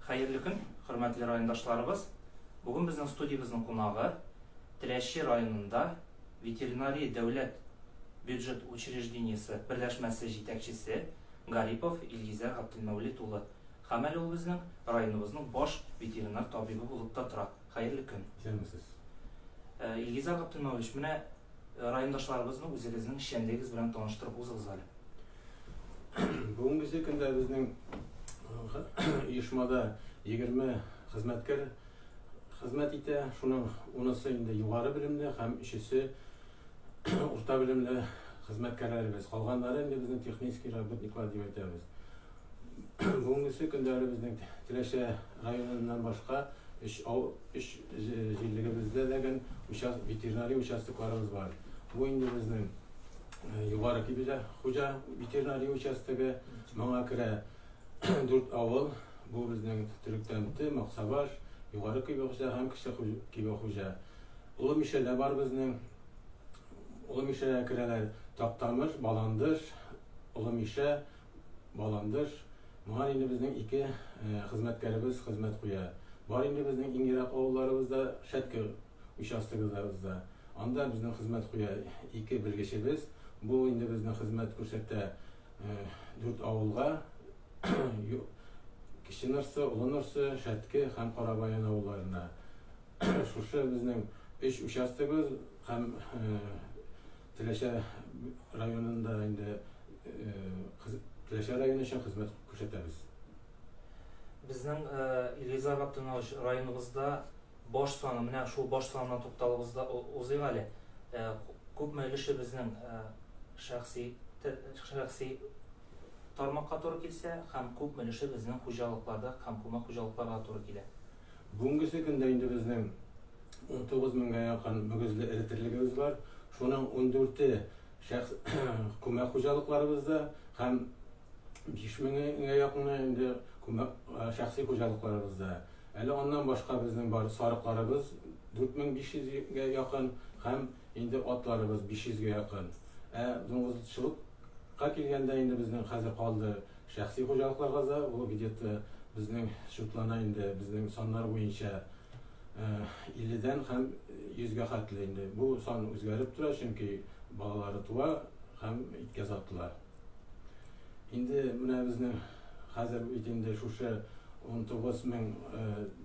Хәерле көн, хөрмәтле райондашларыбыз! Бүген безнең студиябезнең кунагы Теләче районында ветеринария дәүләт бюджет учреждениесе берләшмәсе җитәкчесе Гарипов Илгизәр Габделмәүлит улы. Һәм әле ул безнең районыбызның баш ветеринар табибы булып та тора. Хәерле көн! Исәнмесез! Илгизәр Габделмәүлич, менә Райондашларыбызны үзегезнең эшчәнлегегез белән таныштырып узыгыз әле. Бүгенге көндә безнең оешмада 20 хезмәткәр хезмәт итә. Шуның унысы инде югары белемле һәм өчесе урта белемле хезмәткәрләребез. Калганнары инде безнең технический работниклар дип әйтәбез. Бүгенгесе көннәре безнең Теләче районыннан башка өч ау, өч җирлегебездә дә гән участ, ветеринария участокларыбыз бар. Бу инде безнең э, Югары Кибилә хуҗа ветеринария участогы, моңа керә дүрт авыл. Бу безнең Төректәнте, Максабаш, Югары Кибе хуҗа һәм Кече Хуҗ- Кибе хуҗа. Олы Мишәдә бар безнең. Олы Мишәгә керәләр Тактамыш, Баландыш, Олы Мишә, Баландыш, Моңа инде безнең ике хезмәткәребез хезмәт куя. Бар инде безнең иң ерак авылларыбыз да Шәтке участогыбызда. Анда безнең хезмәт куя ике белгечебез. Бу инде безнең хезмәт күрсәтә дүрт авылга, Кече Нырсы, Олы Нырсы, Шәтке һәм Карабаян авылларына. Шушы безнең өч участогыбыз һәм Теләче районында инде Теләче районы өчен хезмәт күрсәтәбез. Безнең Илгизар Габдунович районыбызда баш саны, менә шул баш санына тукталыбыз да узыйк әле. Күпме өлеше безнең шәхси шәхси тармакка туры килсә һәм күпме өлеше безнең хуҗалыкларда һәм күмәк хуҗалыкларга туры килә? Бүгенгесе көндә инде безнең унтугыз меңгә якын мөгезле эретерлегебез бар. Шуның ундүрте шәхс күмәк хуҗалыкларыбызда һәм биш меңгә якыны инде күмәк шәхси хуҗалыкларыбызда. Әле аннан башка безнең бар сарыкларыбыз, дүрт мең биш йөзгә якын, һәм инде атларыбыз, биш йөзгә якын. Ә дуңгызчылыкка килгәндә, инде безнең хәзер калды Шәхси хуҗалыкларга да ул где-то безнең счетлана инде, безнең саннар буенча 50 дән һәм 100 гә хәтле инде. Бу сан үзгәреп тора, чөнки балалары туа һәм иткә сатыла. Инде менә безнең хәзер бит инде шушы 19 мең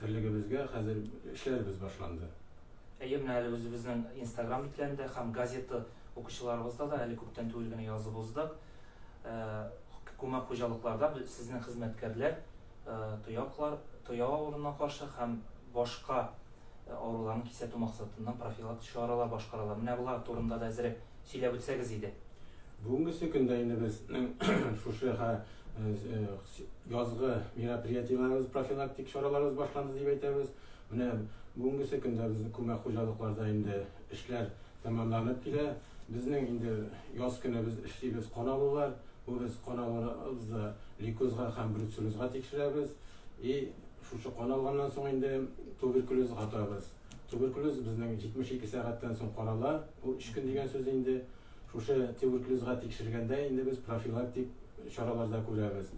терлегебезгә хәзер эшләребез башланды. Әйе, менә әле үзебезнең инстаграм битләрендә һәм газета укучыларыбызда да әле күптән түгел генә язып уздык. Күмәк хуҗалыкларда сезнең хезмәткәрләр тояклар, тояк авыруына каршы һәм башка авыруларны кисәтү максатыннан профилактик чаралар башкаралар. Менә болар турында да әзрәк сөйләп үтсәгез иде. Бүгенгесе көндә инде безнең шушы язгы мероприятиеләребез, профилактик чараларыбыз башланды дип әйтәбез. Менә бүгенгесе көндә безнең күмәк хуҗалыкларда инде эшләр Тәмамланып килә. Безнең инде яз көне без эшлибез кан алулар. Бу без кан алуларыбызда лейкозга һәм бруцеллезга тикшерәбез. И шушы кан алганнан соң инде туберкулез атабыз. Туберкулез безнең 72 сәгатьтән соң карала. Ул өч көн дигән сүз инде. Шушы туберкулезга тикшергәндә инде без профилактик чараларда күрәбез.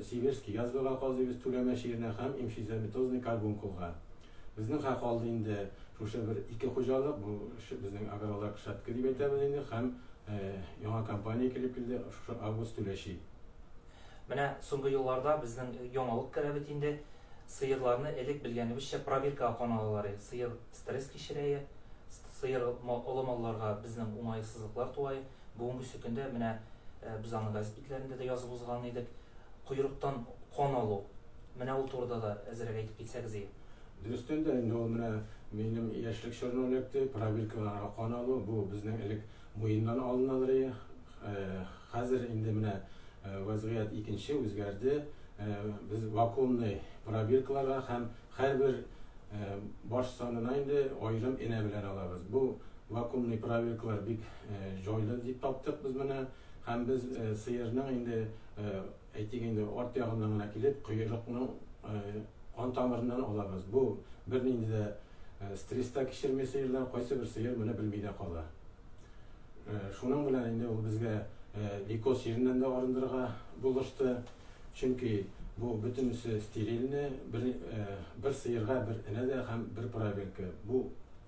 Сибирский язвага казыйбыз түләмә чиренә һәм имшизометозный карбункулга. Безнең хак алды инде шушы бер ике хуҗалык, бу безнең Агролак Шәтке дип әйтәбез инде һәм яңа компания килеп килде, шушы Август түләши. Менә соңгы елларда безнең яңалык керә бит инде, сыерларны элек белгәнебезчә пробиркага каналалар иде, сыер стресс кичерәе, сыер олы малларга безнең уңаесызлыклар туае, Бүгенгесе көндә менә без аны газет битләрендә дә язып узган идек. Койрыктан кан алу. Менә ул турыда да әзрәк әйтеп китсәгезие. Дөрестән дә инде ул менә минем яшьлек чорны эләкте. Пробиркаларга кан алу, бу безнең элек муеннан алыналыр ие. Хәзер инде менә вәзгыять икенче, үзгәрде. Без вакуумный пробиркаларга һәм. Һәрбер баш санына инде аерым энә белән алабыз. Бу вакуумный правилкалар бик җайлы дип таптык без моны. Һәм без сыерның инде, әйтик инде, арт ягыннан гына килеп, коерыкның кан тамырыннан алабыз. Бу бернинди дә стресс та кичерми сыерлар, кайсыбер сыер моны белми дә кала. Шуның белән инде ул безгә Ликос җиреннән дә арындырырга булышты. Чөнки бу бөтенесе стерильне, бер, бер сыерга бер энә дә һәм бер пробирка. Бу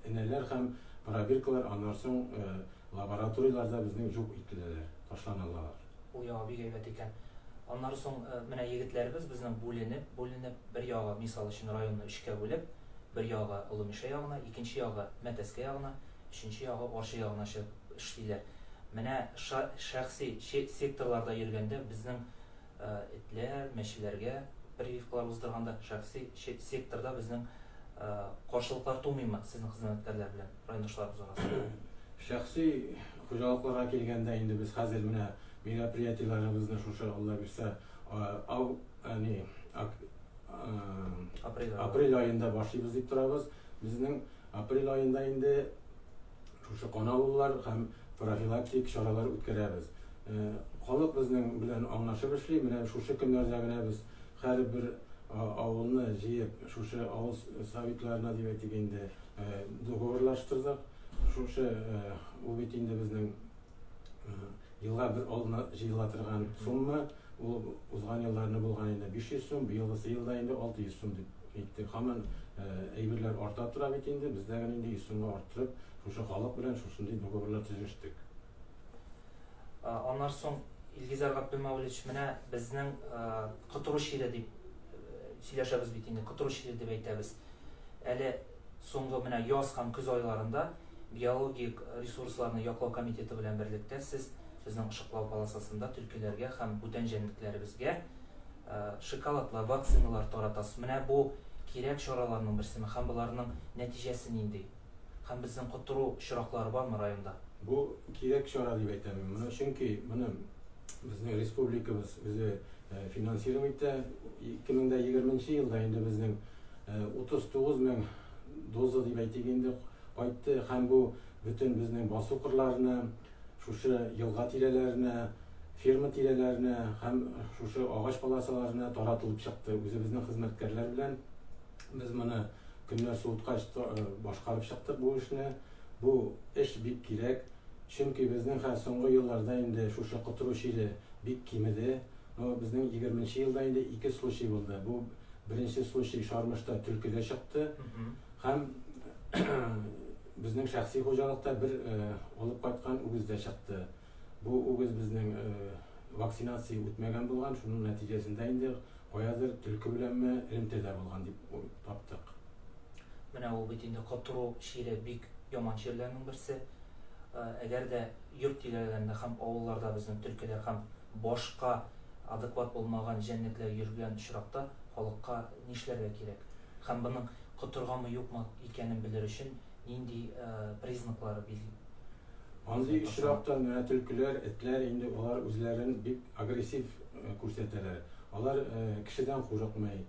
энәләр һәм пробиркалар аннан соң лабораторияләрдә безнең юк ителәләр, ташланалар. Ул яңа бик әйбәт икән. Аннары соң менә егетләребез безнең бүленеп, бүленеп, бер ягы, мисал өчен, районны өчкә бүлеп, бер ягы Олы Мишә ягына, икенче ягы Мәтәскә ягына, өченче ягы Арча ягына чыгып эшлиләр. Менә ша, шәхси че, секторларда йөргәндә безнең этләр, мәчеләргә прививкалар уздырганда шәхси че, секторда безнең каршылыклар тумыймы сезнең хезмәткәрләр белән райондашларыбыз арасында? Шәхси Хуҗалыкларга килгәндә, инде без хәзер менә мероприятиеләребезне шушы Алла бирсә, ау, әни, ак, апрель ае. апрель аенда башлыйбыз дип торабыз. Безнең апрель аенда инде шушы кан алулар һәм профилактик чаралар үткәрәбез. Халык безнең белән аңлашып эшли, менә шушы көннәрдә генә без һәрбер авылны җыеп, шушы авыл советларына дип әйтик инде, договорлаштырдык. Шушы ул бит инде безнең елга бер алдына җыела торган сумма. Ул узган елларны булган инде 500 сум, быелгысы елда инде 600 сум дип әйтте. Һаман әйберләр арта тора бит инде. Без дә инде 100 сумга арттырып, шушы халык белән шушындый договорлар төзештек. Аннан соң Илгизәр Габдулмәүлич менә безнең котыру чире дип сөйләшәбез бит инде, котыру чире дип әйтәбез. Әле Соңгы менә яз һәм көз айларында Биологик ресурсларны яклау комитеты белән берлектә сез безнең ышыклау полосасында төлкеләргә һәм бүтән җәнлекләребезгә шоколадлар, вакциналар таратасыз. Менә бу кирәк чараларның берсеме һәм боларның нәтиҗәсе нинди? Һәм безнең котыру очраклары бармы районда? Бу кирәк чара дип әйтәм мин моны, чөнки моны безнең республикабыз үзе финансировать итә. 2020 нче елда инде безнең 39 мең доза дип әйтик инде кайтты һәм бу бөтен безнең басу кырларына, шушы елга тирәләренә, ферма тирәләренә һәм шушы агач полосаларына таратылып чыкты. Үзебезнең хезмәткәрләр белән без моны көннәр суыткач башкарып чыктык бу эшне. Бу эш бик кирәк, чөнки безнең хә соңгы елларда инде шушы котыру чире бик кимеде. Но безнең 20 нче елда инде ике случай булды. Бу Беренче случай Шармышта төлкедә чыкты. Һәм безнең шәхси хуҗалыкта бер алып кайткан үгез дә чыкты. Бу үгез безнең вакцинация үтмәгән булган, шуның нәтиҗәсендә инде каядыр төлке беләнме элемтәдә булган дип таптык. Менә ул бит инде котыру чире бик яман чирләрнең берсе. Әгәр дә йорт тирәләрендә һәм авылларда безнең төлкеләр һәм башка Адекват булмаган җәнлекләр йөргән очракта халыкка нишләргә кирәк? Һәм моның котырганмы-юкмы икәнен белер өчен нинди признаклары бизли? Андый очракта менә төлкеләр, этләр инде алар үзләрен бик агрессив күрсәтәләр. Алар кешедән курыкмый,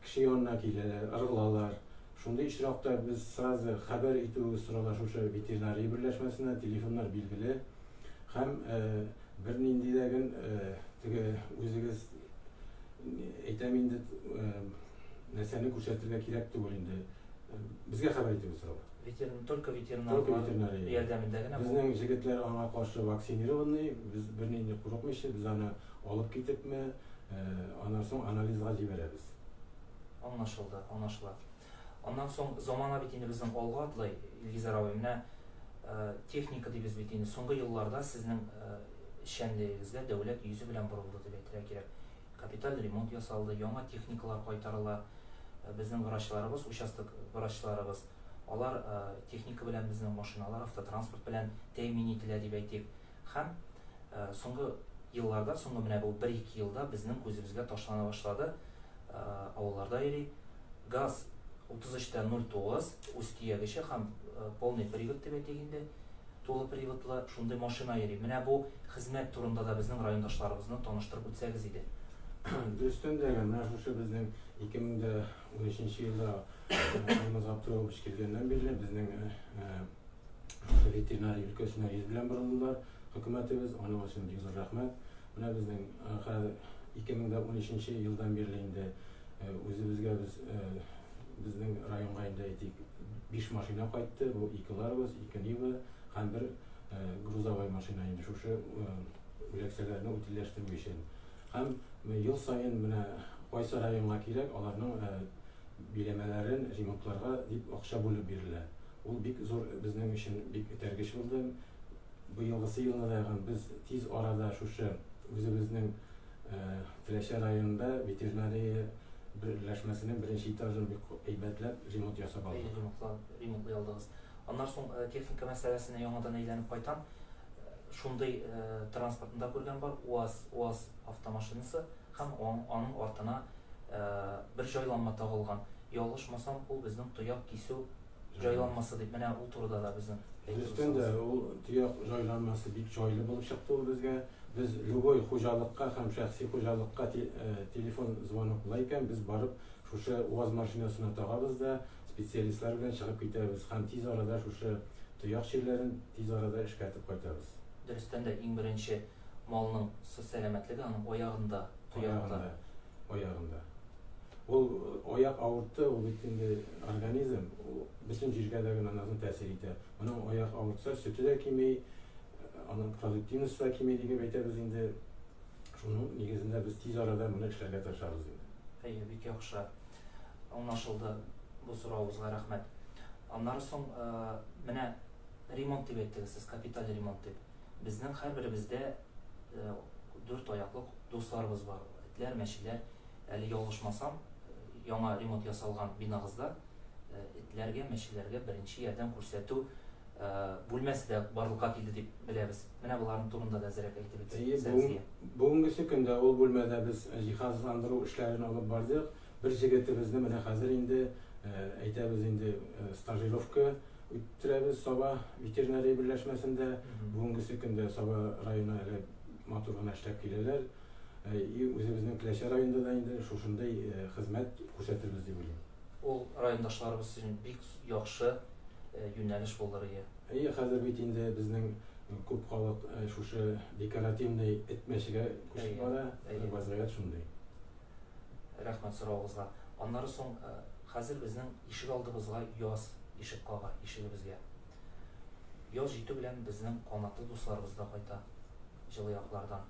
кеше янына киләләр, ыргылалар. Шундый очракта без сразу хәбәр итүебез сорала шушы ветеринария берләшмәсенә, телефоннар билгеле. Һәм бернинди дә гел теге үзегез әйтәм инде нәрсәне күрсәтергә кирәк түгел инде. Безгә хәбәр итегез сорау. Ветерин, только ветеринар. Только ветеринар. Ярдәмендә генә. Безнең җегетләр аңа каршы вакцинированный, без бернинди курыкмыйча, без аны алып китепме, аннан соң анализга җибәрәбез. Аңлашылды, аңлашыла. Аннан соң, замана бит инде безнең алга атлый, Илгизәр абый, менә техника дибез бит инде, соңгы елларда сезнең эшчәнлегегезгә дәүләт йөзе белән борылды дип әйтергә кирәк. Капиталь ремонт ясалды, яңа техникалар кайтарыла. Безнең врачларыбыз, участок врачларыбыз, алар техника белән, безнең машиналар, автотранспорт белән тәэмин ителә дип әйтик. Һәм соңгы елларда, соңгы менә бу бер-ике елда безнең күзебезгә ташлана башлады, авылларда йөри. Газ 33 тә 09 үз төягече һәм полный привод дип әйтик инде, тулы приводлы шундый машина йөри. Менә бу хезмәт турында да безнең райондашларыбызны таныштырып үтсәгез иде. Дөрестән дә, менә шушы безнең 2013 нче елда Алмаз Габдуллович килгәннән бирле безнең ветеринария өлкәсенә йөз белән борылдылар хөкүмәтебез, аның өчен бик зур рәхмәт. Менә безнең хәзер 2013 нче елдан бирле инде үзебезгә без безнең районга инде әйтик биш машина кайтты. Бу ике Ларгус, ике Нива һәм бер грузовой машина инде шушы үләксәләрне утильләштерү өчен. Һәм ел саен менә кайсы районга кирәк, аларның биләмәләрен ремонтларга дип акча бүлеп бирелә. Ул бик зур безнең өчен бик этәргеч булды. Быелгысы елны да без тиз арада шушы үзебезнең Теләче районында ветеринария берләшмәсенең беренче этажын бик әйбәтләп ремонт ясап алдык. Әйе, ремонтлап, ремонтлый алдыгыз. Аннан соң техника мәсьәләсенә яңадан әйләнеп кайтам. Шундый транспортны да күргән бар, УАЗ, УАЗ автомашинасы һәм аның артына бер җайланма тагылган. Ялгышмасам, ул безнең тояк кисү җайланмасы дип менә ул турыда да безнең Дөрестән дә ул төяк җайланмасы бик җайлы булып чыкты ул безгә. Без любой хуҗалыкка һәм шәхси хуҗалыкка э, телефон звонок була икән, без барып шушы УАЗ машинасына тагабыз да, специалистлар белән чыгып китәбез һәм тиз арада шушы төяк чирләрен тиз арада эшкәртеп кайтабыз. Дөрестән дә иң беренче малның сәламәтлеге аның аягында, тоякта. аягында. Ул э, аяк авыртты, ул бит инде организм, ул бөтен җиргә дә генә назын тәэсир итә. Моның аяк авыртса, сөте дә кими, э, аның продуктивность та кими дип әйтәбез инде. Шуның нигезендә без тиз арада моны эшләргә тырышабыз инде. Әйе, бик яхшы. Аңлашылды бу соравыбызга рәхмәт. Аннары соң э, менә ремонт дип әйттегез сез, капиталь ремонт дип. Безнең һәрберебездә дүрт аяклы дусларыбыз бар, этләр, мәчеләр. Әле ялгышмасам, яңа ремонт ясалган бинагызда этләргә, мәчеләргә беренче ярдәм күрсәтү бүлмәсе дә барлыкка килде дип беләбез. Менә боларның турында да әзерәк әйтеп үтсәгез, Сәмзия. Әйе, бүгенгесе көндә ул бүлмәдә без җиһазландыру эшләрен алып бардык. Бер җегетебезне менә хәзер инде, әйтәбез инде, стажировка үттерәбез Саба ветеринария берләшмәсендә. Бүгенгесе көндә Саба районы әле матур гына эшләп киләләр. И үзебезнең Теләче районында да инде шушындый хезмәт күрсәтербез дип уйлыйм. Ул райондашларыбыз өчен бик яхшы юнәлеш булыр ие. Әйе, хәзер бит инде безнең күп халык шушы декоративный эт мәчегә күчеп бара. Вазгыять шундый. Рәхмәт соравыгызга. Аннары соң хәзер безнең ишегалдыбызга яз ишек кага, ишегебезгә. Яз җитү белән безнең канатлы дусларыбыз да кайта, җылы яклардан.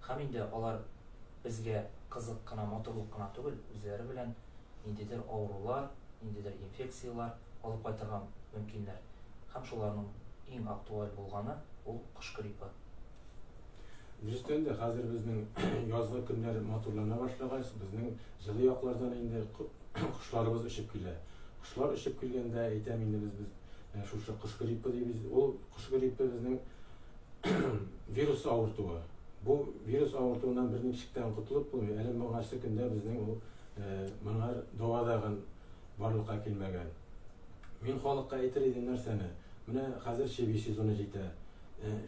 Һәм инде алар безгә кызык кына, матурлык кына түгел, үзләре белән ниндидер авырулар, ниндидер инфекцияләр алып кайтырга мөмкиннәр. Һәм шуларның иң актуаль булганы, ул кош гриппы. Дөрестән дә хәзер безнең язгы көннәр матурлана башлагач, безнең җылы яклардан инде кошларыбыз очып килә. Кошлар очып килгәндә әйтәм инде без без э, шушы кош гриппы дибез. Ул кош гриппы безнең вирус авыртуы. Бу вирус авыртуыннан бер ничектән котылып булмый. Әле моңа көндә безнең ул э, моңа дәва дагын барлыкка килмәгән. Мин халыкка әйтер идем нәрсәне? Менә хәзер чеби сезоны җитә.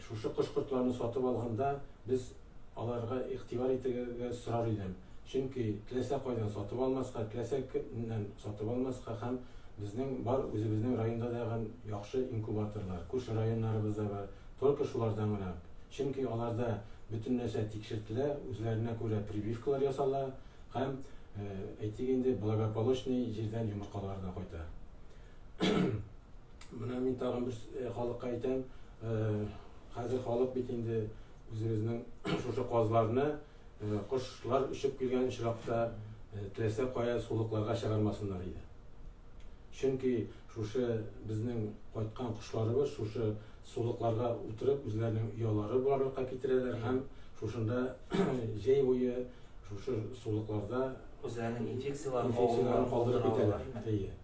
Шушы кош-кортларны сатып алганда, без аларга игътибар итергә сорар идем, чөнки теләсә кайдан сатып алмаска, теләсә кемнән сатып алмаска һәм безнең бар үзебезнең районда да ган яхшы инкубаторлар, күрше районнарыбызда бар, только шулардан гына, чөнки аларда бөтен нәрсә тикшертелә, үзләренә күрә прививкалар ясала һәм, әйтик инде, благополучный җирдән йомыркалары да кайта. Менә мин тагын бер э, халыкка әйтәм, э, хәзер халык бит инде үзебезнең шушы казларны э, кошлар өчеп килгән очракта теләсә кая сулыкларга чыгармасыннар иде. Чөнки шушы безнең кайткан кошларыбыз шушы сулыкларга утырып үзләренең оялары барлыкка китерәләр һәм шушында җәй буе шушы сулыкларда үзләренең инфекцияләрен калдырып китәләр.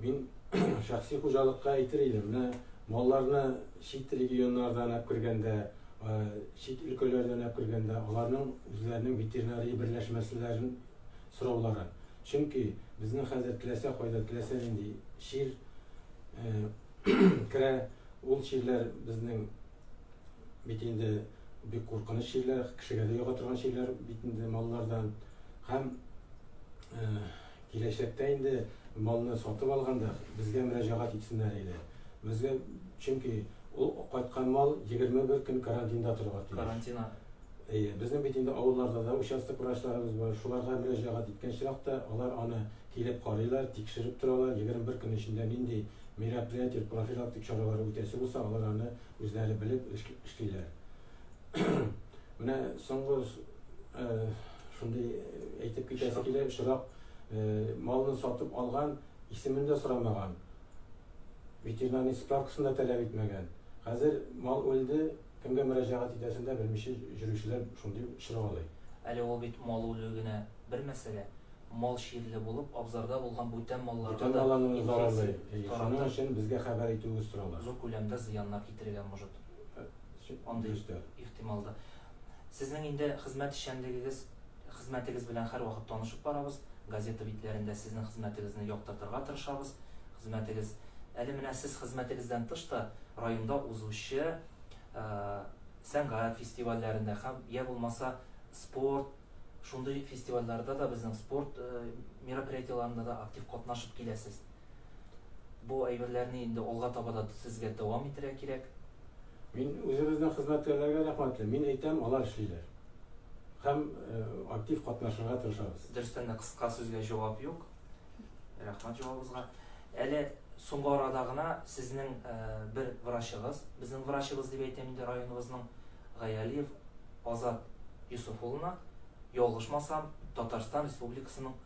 Мин шәхси хуҗалыкка әйтер идем, менә малларны чит регионнардан алып кергәндә, э, чит өлкәләрдән алып кергәндә, аларның үзләренең ветеринария берләшмәселәрен сораулары. Чөнки безнең хәзер теләсә кайда, теләсә нинди чир э, керә, ул чирләр безнең бит инде бик куркыныч чирләр, кешегә дә йога торган чирләр бит инде маллардан һәм э, Киләчәктә инде малны сатып алганда безгә мөрәҗәгать итсеннәр иде. Безгә, чөнки ул кайткан мал егерме бер көн карантинда торырга тиеш. Карантина. Әйе, безнең бит инде авылларда да участок врачларыбыз бар. Шуларга мөрәҗәгать иткән чиракта, алар аны килеп карыйлар, тикшереп торалар, егерме бер көн эчендә нинди мероприятие, профилактик чаралар үтәсе булса, алар аны үзләре белеп эшлиләр. Менә соңгы Шундый әйтеп китәсе килә, чыдап малны сатып алган, исемен дә сорамаган, ветеринарный справкасын да таләп итмәгән. Хәзер мал үлде, кемгә мөрәҗәгать итәсен дә белмичә җөрүчеләр шундый чыргалый. Әле ул бит мал үлүе генә бер мәсьәлә, мал чирле булып, абзарда булган бүтән малларга да инфекция таратып, зур күләмдә зыяннар китерергә может. Андый ихтимал да. Сезнең инде хезмәт эшчәнлегегез хезмәтегез белән һәрвакыт танышып барабыз, газета битләрендә сезнең хезмәтегезне яктыртырга тырышабыз. Хезмәтегез Әле менә сез хезмәтегездән тыш та районда узучы сәнгать фестивальләрендә һәм йә булмаса спорт шундый фестивальләрдә дә безнең спорт мероприятиеләрендә дә актив катнашып киләсез. Бу әйберләрне инде алга таба да сезгә дәвам итәргә кирәк. Мин үзебезнең хезмәткәрләргә рәхмәтле. Мин әйтәм, алар эшлиләр. Һәм актив катнашырга тырышабыз. Дөрестән дә кыска сүзгә җавап юк. Рәхмәт җавабыгызга. Әле соңгы арада гына сезнең бер врачыгыз, безнең врачыбыз дип әйтәм инде районыбызның, Гаялиев Азат Йосыф улына, ялгышмасам, Татарстан Республикасының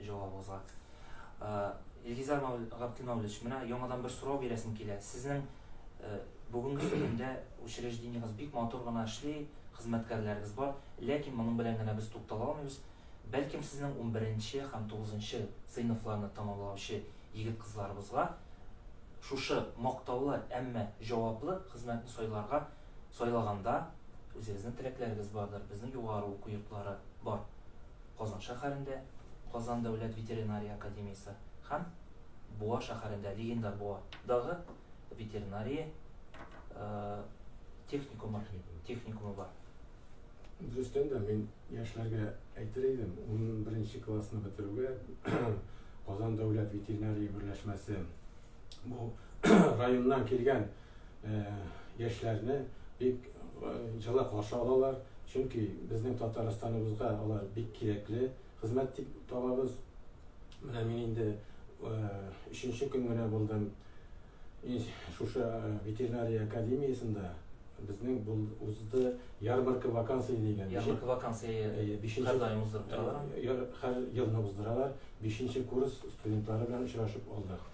җавабыгызга. Э, Илгизар Габделмәүлевич, менә яңадан бер сорау бирәсем килә. Сезнең э, бүгенге көндә учреждениегез бик матур гына эшли, хезмәткәрләрегез бар, ләкин моның белән генә без туктала алмыйбыз. Бәлкем сезнең 11-нче һәм 9-нчы сыйныфларны тәмамлаучы егет-кызларыбызга шушы мактаулы, әмма җаваплы хезмәтне сайларга сайлаганда үзегезнең теләкләрегез бардыр, безнең югары уку йортлары бар. Казан шәһәрендә Казан дәүләт ветеринария академиясе һәм Буа шәһәрендә легендар Буа дагы ветеринария техникумы техникумы бар. Дөрестән дә, мин яшьләргә әйтер идем, унберенче классны бетерүгә Казан дәүләт ветеринария берләшмәсе, бу районнан килгән э, яшьләрне бик э, җылы каршы алалар, чөнки безнең Татарстаныбызга алар бик кирәкле хезмәт дип табабыз. Менә мин инде э, өченче көн генә булдым шушы ветеринария академиясендә Безнең бул узды ярмарка вакансия дигән. Ярмарка вакансия э, бишенче һәр даим уздырып торалар. Э, һәр елны уздыралар. Бишенче курс студентлары белән очрашып алдык.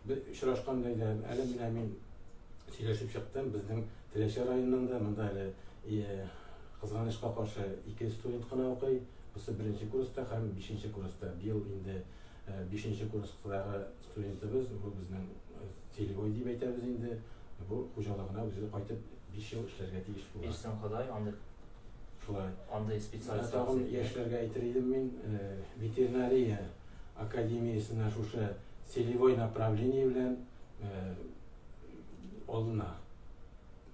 Без очрашкан бәйдә әле менә мин сөйләшеп чыктым. Безнең Теләче районының да монда әле э, кызганычка каршы ике студент кына укый. Бусы беренче курста һәм бишенче курста. Быел инде Бишенче курстагы студентыбыз, бу безнең Целевой дип әйтәбез инде, бу хуҗалыгына үзе кайтып биш ел эшләргә тиеш була. Бирсен Ходай андый. Шулай. Андый специалист. Тагын яшьләргә әйтер идем мин, ветеринария академиясенә шушы целевой направление белән алына.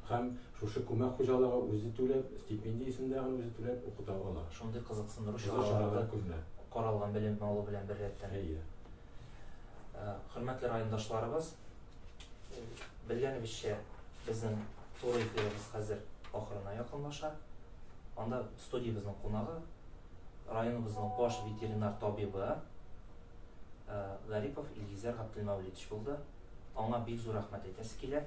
Һәм шушы күмәк хуҗалыгы үзе түләп, стипендия исемдә генә үзе түләп укыта ала. Шундый кызыксындыру чаралары да каралган белем алу белән беррәттән. Әйе. Хөрмәтле райондашларыбыз, белгәнебезчә, безнең туры эфирыбыз хәзер ахырына якынлаша. Анда студиябезнең кунагы, районыбызның баш ветеринар табибы Гарипов Илгизәр Габделмәүлидович булды. Аңа бик зур рәхмәт әйтәсе килә.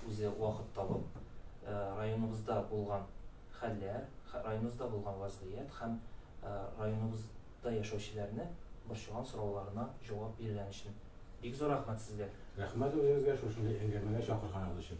үзе вакыт табып, районыбызда булган хәлләр, районыбызда булган вазгыять һәм районыбызда яшәүчеләрне борчыган сорауларына җавап биргән өчен бик зур рәхмәт сезгә! Рәхмәт үзегезгә шушындый әңгәмәгә чакырганыгыз өчен!